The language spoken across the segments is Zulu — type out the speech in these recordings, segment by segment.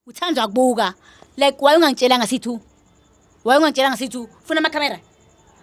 Uthandwa kubuka. Like why ungangitshelanga sithu? Why ungangitshelanga sithu? Funa ama camera.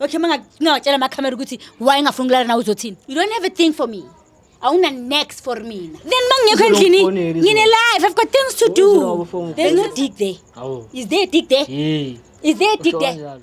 Okay manga ngawatshela ama camera ukuthi why ngafuna ukulala nawe uzothini? You don't have a thing for me. Awuna next for mina. Then mangekho endlini Uzokufonela izolo. ngine life. I've got things to do. Uzoba phone. There's no dick there. Awu. Is there a dick there? Hey. Is there a dick there? Usho kanjalo.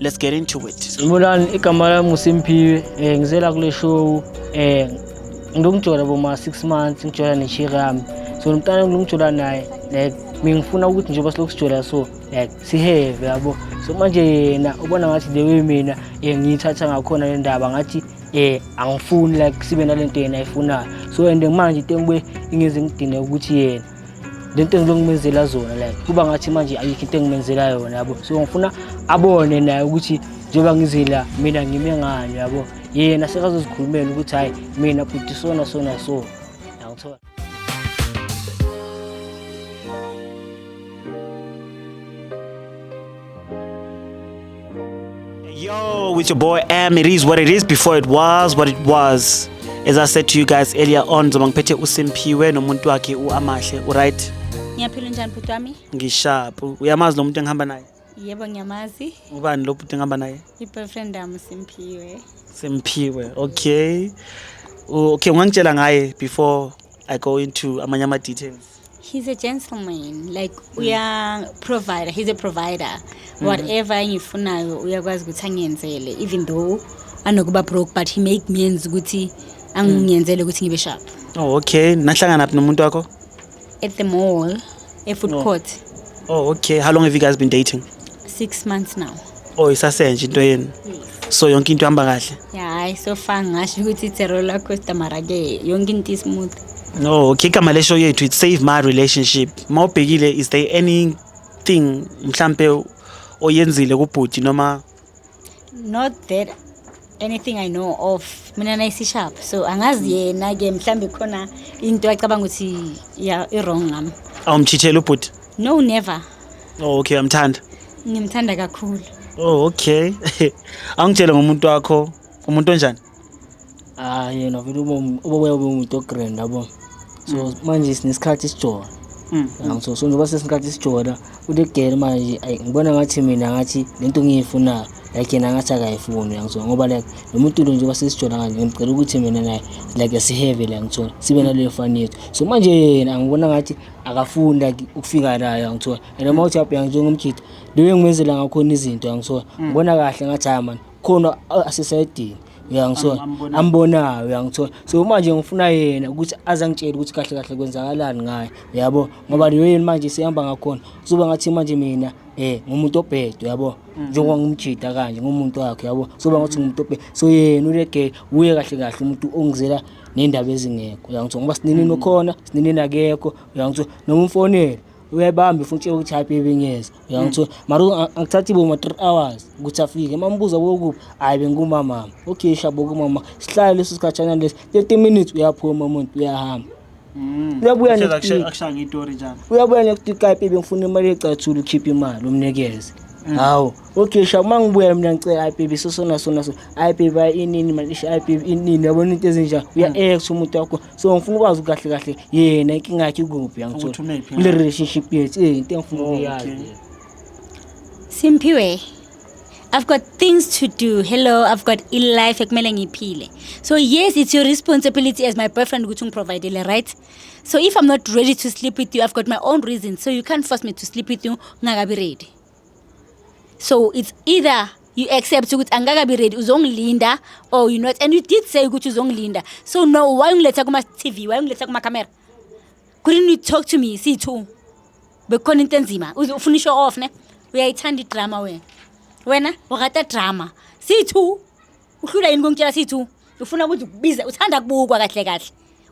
let's get into it sanibonani igama lami ngusimphiwe um eh, ngizela kule show um eh, ngilokujola boma-six months ngijola neshiri yami so nomntana ngilokujola naye like mingifuna ukuthi njengoba silokhu sijola so like siheve yabo so manje yena ubona ngathi the way mina um ngiyithatha ngakhona le ndaba ngathi eh angifuni like sibe nalento yena ayifunayo so and manje tengbe ingize ngidine ukuthi yena le nto engilokhu ngimenzela zona like kuba ngathi manje ayikho into engimenzela yona yabo so ngifuna abone naye ukuthi njengoba ngizila mina ngime ngani yabo yena sekazozikhulumela ukuthi hhayi mina bhuti sona sona so yangithola Yo, with your boy Am, it is what it is before it was what it was. As I said to you guys earlier on, zoba ngiphethe uSimphiwe nomuntu wakhe uAmahle, right? Ngiyaphila njani bhuti wami? Ngisharp. Uyamazi lo muntu engihamba naye? Yebo ngiyamazi. Ubani lo bhuti engihamba naye? I-boyfriend yami Simphiwe. Simphiwe. Okay. Okay, ungangitshela ngaye before I go into amanye ama details. he's a gentleman like mm. uya provider he's a provider mm -hmm. whatever engifunayo uyakwazi ukuthi angiyenzele even though anokuba broke but he make means ukuthi angiyenzele ukuthi ngibe sharp oh okay nahlangana phi nomuntu wakho at the mall e food oh. court oh okay how long have you guys been dating 6 months now oh isasenje into yenu so yonke into ihamba kahle hayi so far ngasho ukuthi it's a roller coaster mara ke yonke into ismooth no okay igama lesho yethu it save my relationship uma ubhekile is there anything mhlampe oyenzile kubhuti noma not that anything i know of mina nayisishapha so angazi yena ke mhlawumbe khona into acabanga ukuthi ya i-wrong ngami awumchithela ubhuti no never oh okay amthanda ngimthanda kakhulu oh okay angitshele ngomuntu wakho umuntu onjani ah yena vele ubobuya ubumuntu ogrand yabo so manje sinesikhathi isijola mm. so so njengoba sesikhathi isijola ulegele manje ayi ngibona ngathi mina ngathi lento ngiyifunayo like yena ngathi akayifuni yangithola ngoba like lo muntu lo njengoba sesijola kanje ngimcela ukuthi mina naye like siheve la ngithola sibe naleyo fani yethu so manje yena angibona ngathi akafuni like ukufika nayo yangithola and uma uthi abheka njengomjita leyo ngimenzela ngakhona izinto yangithola mm. ngibona kahle ngathi hayi mani khona asisayedini uyangithola ambonayo uyangithola so manje ngifuna yena ukuthi aze angitshele ukuthi kahle kahle kwenzakalani ngaye uyabo ngoba leyo yini manje sihamba ngakhona kuzoba ngathi manje mina eh ngumuntu obhedwe yabo mhm. njengoba ngumjida kanje ngumuntu wakhe yabo soba ngathi ngumuntu obhedwe so yena ulege uye kahle kahle umuntu ongizela nendaba ezingekho uyangithola ngoba sinini mhm. nokhona sinini nakekho uyangithola noma umfonela uyayibamba futhi utshela ukuthi hayi bebe ngiyeza uyangithola mara u- a- angithathi boma three hours ukuthi afike mambuza bokuphi hhayi bengumamama okay shabo kumama sihlale leso sikhatshana lesi thirty minutes uyaphuma umuntu uyahamba uyabuya Kushaza next kushe- week akushaya ngetori njalo uyabuya next week kapi bengifuna imali ecathula ukhiphe imali umnikeze hawu okay shabo uma ngibuya mina ngicela hayi baby sosona sona so hayi baby hayi inini malisha hayi baby inini yabona into ezinjani uya-ex umuntu wakho so ngifuna ukwazi kahle kahle yena inkinga yakhe ikuphi yangithola kule relationship yethu eh into engifuna oh, ukuyazi Simphiwe I've got things to do. Hello, I've got a life ekumele ngiphile. So yes, it's your responsibility as my boyfriend ukuthi ngiprovidele, right? So if I'm not ready to sleep with you, I've got my own reasons. So you can't force me to sleep with you ngakabi ready. so it's either you accept ukuthi angikakabi ready uzongilinda or you not and you did say ukuthi uzongilinda so no why ungiletha kuma-tv why ungiletha kumakhamera couldn't you talk to me siyi-two bekukhona into enzima uze ufuna isho off ne uyayithanda idrama wena wena urata drama siyi-two uhlula yini kungitshela siyi-two ufuna ukuthi ukubize uthanda kubukwa kahle kahle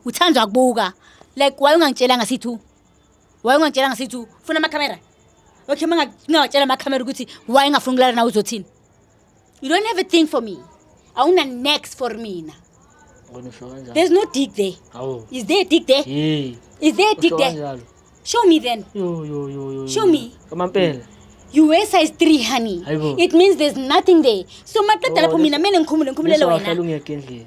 uthandwa kubuka like why ungangitshelanga siyi-two wayengangitshela ngasithi ufuna amakhamera okay uma ngingawatshela amakhamera ukuthi wayengafuni ukulala nawe uzothini you don't have a thing for me awuna next for mina there's no dick there Awu. is there a dick there Hey. is there a dick there Kanjalo. show me then Yo yo yo yo. show me Kamampela. you wear size 3 honey Hayibo. it means there's nothing there so maqeda lapho mina mele ngikhumule ngikhumulele Ngizwa wena wahlala ungekho endlini.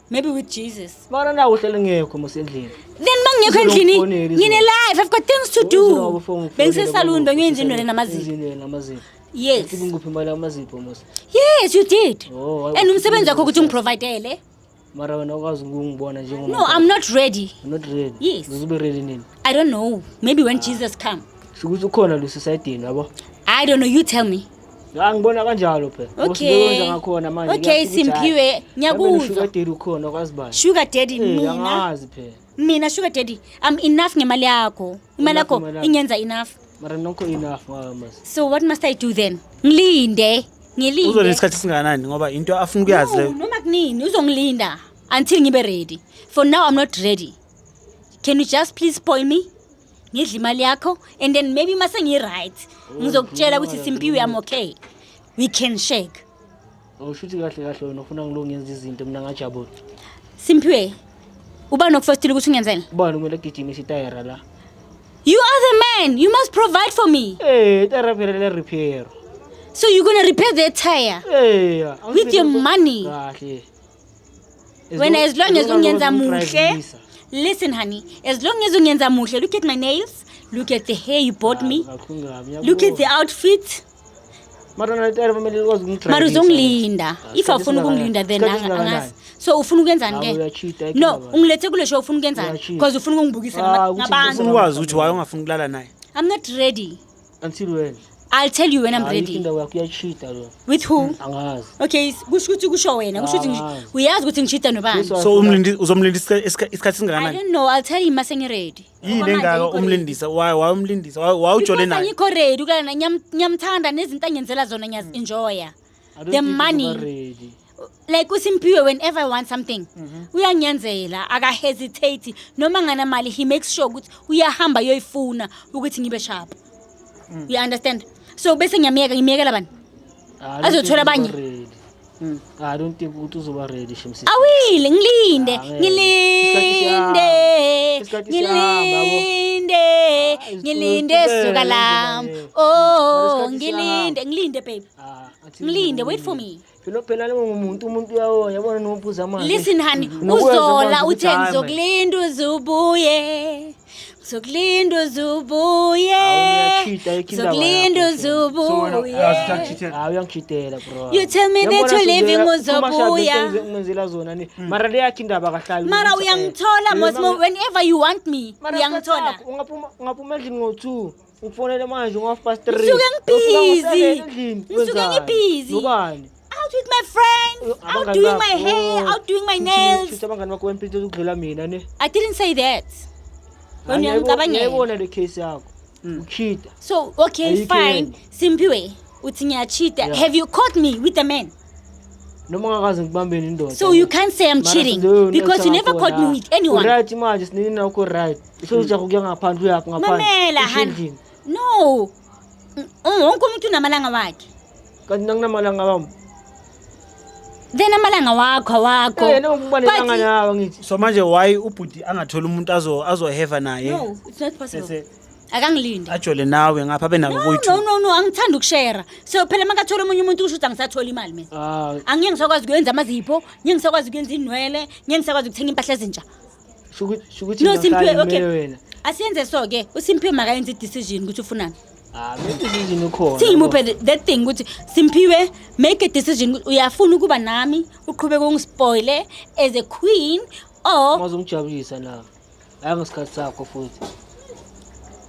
Maybe with Jesus. Mara na uhlele ngekho mos endlini. Then mangekho endlini ngine life I've got things to do. Bengise salon bengiye nje indwele namazipho. Indwele namazipho. Yes. Uthi ngikuphi imali amazipho mos. Yes you did. Oh, and umsebenzi wakho ukuthi ungiprovidele. Mara wena ukwazi ukungibona njengoba. No I'm not ready. I'm not ready. Yes. Uzobe ready nini? I don't know. Maybe when ah. Jesus come. Shukuthi ukhona lo society yabo. I don't know you tell me. Ya ngibona kanjalo phela. Okay. ngakhona manje. Okay Simphiwe ngiyakuzwa. Daddy ukhona kwazi bani. Sugar daddy eh, mina. Angazi phela. Mina sugar daddy I'm enough ngemali yakho. Imali yakho ingenza enough. Mara nokho enough mama. So what must I do then? Ngilinde. Ngilinde. Uzolinda isikhathi singanani ngoba into afuna ukuyazi leyo. Noma kunini uzongilinda until ngibe ready. For now I'm not ready. Can you just please spoil me? ngidla imali yakho and then maybe uma sengi-right ngizokutshela ukuthi simpiwe yami okay we can shake usho ukuthi kahle kahle wena ufuna ngilo ngenza izinto mina ngajabula simpiwe uba nokufestile ukuthi ungenzela ubani kumele agijime isitayera la you are the man you must provide for me Eh, itayera phela le repair. so you're gonna repair the tire Eh, with your money Kahle. wena as long as ungenza muhle listen honey as long as ungenza muhle look at my nails look at the hair you bought me look at the outfit mara uzongilinda if awufuni ukungilinda then angazi so ufuna ukwenzani ke no ungilethe kule show ufuna ukwenzani because ufuna ukungibukisa ngabantu ukwazi ukuthi waye ungafuni ukulala naye i'm not ready until when I'll tell you when I'm Ayikho ready. indawo yakho iyashida lo With who? Hmm, angazi Okay, s- kusho ukuthi kusho wena. Kusho ukuthi ngi- Ah. uyazi ukuthi ngishida nobani. Yes, so umlindi uzomlindisa isikha- isikha- isikhathi I singakanani don't know. I'll tell him mase ngiready. yini Okwamanje engaka ayikho ready. umlindisa waye waye umlindisa waye waye ujole Because naye angikho ready ukulala naye. Ngiyam- ngiyamthanda nezinto angenzela zona ngiyazi-enjoya. the money like uSimphiwe whenever I want something mhm. uyangenzela aka hesitate noma ngana mali he makes sure ukuthi uyahamba yoyifuna ukuthi ngibe sharp mm. you understand so bese ngiyamyeka ngimyekela bani azothola abanye Mm. I don't think ukuthi uzoba ready shemsi. Awile ngilinde, ngilinde. Ngilinde. Ngilinde suka lam. Oh, ngilinde, ngilinde babe. Ah, Mlinde, wait for me. Phela phela ngumuntu umuntu uyawo yabona nophuza amanzi. Listen honey, uzola uthe ngizokulinda uzubuye. Ngizokulinda uzubuye. Ngizokulinda uzubuye. Ah, uyangichitela bro. You tell me that you leaving uzobuya. Ngenzela zona ni. Hmm. Mara le yakhe indaba kahlali. Mara uyangithola mosmo whenever you want me. Uyangithola. Ungaphuma ungaphuma endlini ngo 2. Ngikufonele manje ngo half past 3. Ngisuke ngibhizi. Ngisuke ngibhizi. Nobani? Out with my friends, out doing my hair, oh. out doing my nails. Shuthi abangani bakho bempilo ukudlula mina ne. I didn't say that. Wena uyangicabangela. Ngiyayibona le case yakho. Hmm. Uchita. So, okay, fine. Simpiwe, uthi ngiyachita. Have you caught me with a man? noma ngakaze ngikubambeni indoda so you can't say i'm cheating because you never caught me with anyone right manje sinini nakho right Sewuza kuya ngaphandle uyaphi ngaphandle. Mamela Usho hana. endlini. No. Mm, Wonke umuntu unamalanga wakhe. Kanti nanginamalanga wami. Then amalanga wakho awakho. Eh, yena ukubalekanga But- nawe ngithi. so manje why ubhuti angatholi umuntu azo azoheva naye No, it's not possible. bese Akangilindi. ajole nawe ngapha abe nako No, no, kuyi-two no, no, angithandi ukushera. So phela makathola omunye umuntu kusho ukuthi angisathola imali mina. Ah, Angeke ngisakwazi ukwenza amazipho, ngeke ngisakwazi ukwenza inwele, ngeke ngisakwazi ukuthenga impahla ezintsha. Shuku- shukuthi No, Simphiwe, ngahlala okay. ngimele wena asiyenze so-ke usimphiwe makayenze i-decision ukuthi ufunani Ah, hayi decision ukhona singimuphe the- that thing ukuthi simphiwe make a decision ukuthi uyafuna ukuba nami uqhubeke ungispoile as a queen or mazongijabulisa na hayi ngesikhathi sakho futhi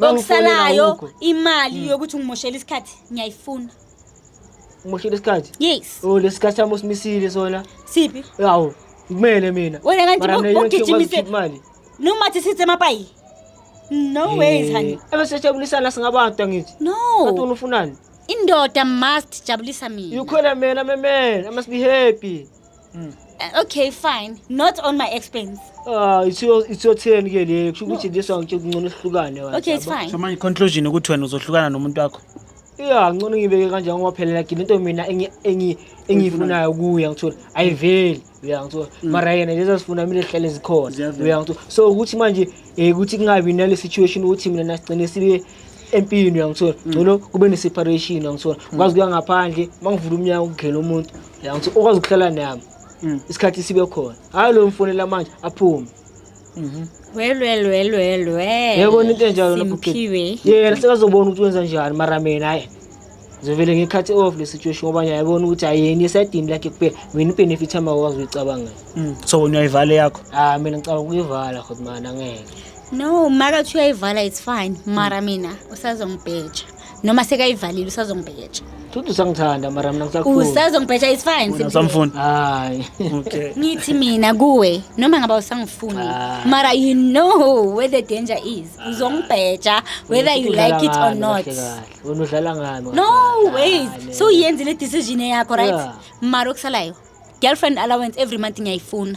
okusalayo imali hmm. yokuthi ungimoshele isikhathi ngiyayifuna umoshele isikhathi yes oh lesikhathi sami usimisile sona siphi yawo kumele mina wena kanti ugijimise imali noma athi sithe mapayi no eh, ways honey ebeseshabulisana singabantu angithi no kanti unufunani indoda must jabulisa mina ukhona mina memela must be happy Mm. Uh, okay fine not on my expense ah it's your it's your turn ke le kusho ukuthi this one ngithe kungcono sihlukane wena okay it's fine so manje conclusion ukuthi wena uzohlukana nomuntu wakho yeah ngcono ngibeke kanje ngoba phela lakini into mina engi engi engiyifunayo kuya ngithola ayiveli uya ngithola mm. mara yena lezi sifuna mina ehlele zikhona uya ngithola so ukuthi manje eh ukuthi kungabi nale situation ukuthi mina nasigcine sibe empini uyangithola mm. ngcono kube ne-separation uyangithola mm. ngikwazi kuya ngaphandle uma ngivula umnyango kugela umuntu Ya ngithi okwazi ukuhlala nami. Mm. Isikhathi sibe khona. Hayi lo mfonela manje aphume. Mhm. Well well well well well. Yebo into enjalo lapho. Simphiwe. Yena sekazobona ukuthi wenza njani mara mina hayi. Zovele ngekhathi off le situation ngoba nje ayibona ukuthi ayeni esedini lakhe kuphela. Mina benefit ama wazi uyicabanga. Mm. So wena uyayivala yakho. Ah mina ngicabanga ukuyivala khot mana ngeke. No, maka uthi uyayivala it's fine. Mara mina usazongibheja. noma sekayivalile usazongibheja Futhi usangithanda mara mina ngisakufuna. usazongibheja is fine Simpiwe. Usamfuni. Hayi. Okay. ngithi mina kuwe noma ngaba usangifuni Ah. mara you know where the danger is uzongibheja whether you Udlala like it or ngami, not kahle kahle. Wena udlala ngami. no kahle wait kahle. so uyenzile decision yakho right Yeah. mara okusalayo girlfriend allowance every month ngiyayifuna